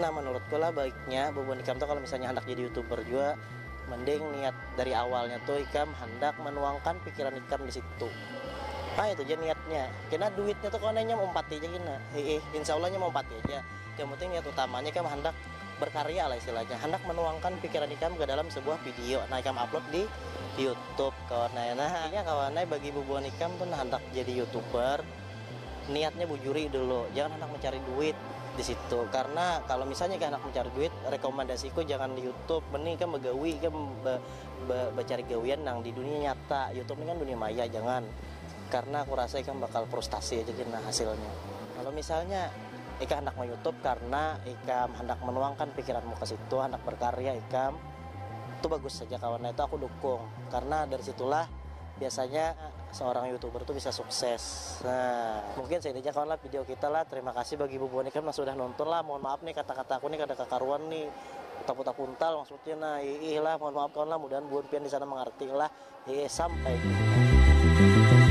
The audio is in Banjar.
Nah menurutku lah baiknya bubuhan ikam tu kalo misalnya handak jadi youtuber jua mending niat dari awalnya tu ikam handak menuangkan pikiran ikam di situ ha itu ja niatnya kena duitnya tu kawan inya maumpati ja kena hiih insya allah inya maumpati aja yang penting niat utamanya ikam handak berkarya lah istilahnya handak menuangkan pikiran ikam ke dalam sebuah video nah ikam upload di youtube kawan ai nah inya kawan ai bagi bubuhan ikam tu handak jadi youtuber. niatnya bujuri dulu jangan handak mencari duit disitu karena kalau misalnya kaya handak mencari duit rekomendasiku jangan youtube mending ikam bagawi ikam ba ba bacari gawian nang di dunia nyata youtube ni kan dunia maya jangan karena aku rasa ikam bakal frustasi aja kina hasilnya kalau misalnya ikam handak ma youtube karena ikam handak menuangkan pikiranmu ke situ handak berkarya ikam tu bagus haja kawan itu aku dukung karena dari situlah. Biasanya seorang youtuber tuh bisa sukses nah mungkin seini aja kawan lah video kita lah terima kasih bagi bubuhan ikam nang sudah nonton lah mohon maaf nih kata kata aku nih kada kakaruan nih utak utak kuntal maksudnya nah hiih lah mohon maaf kawan lah mudahan buhan pian disana mangarti lah hiih sampai jumpa.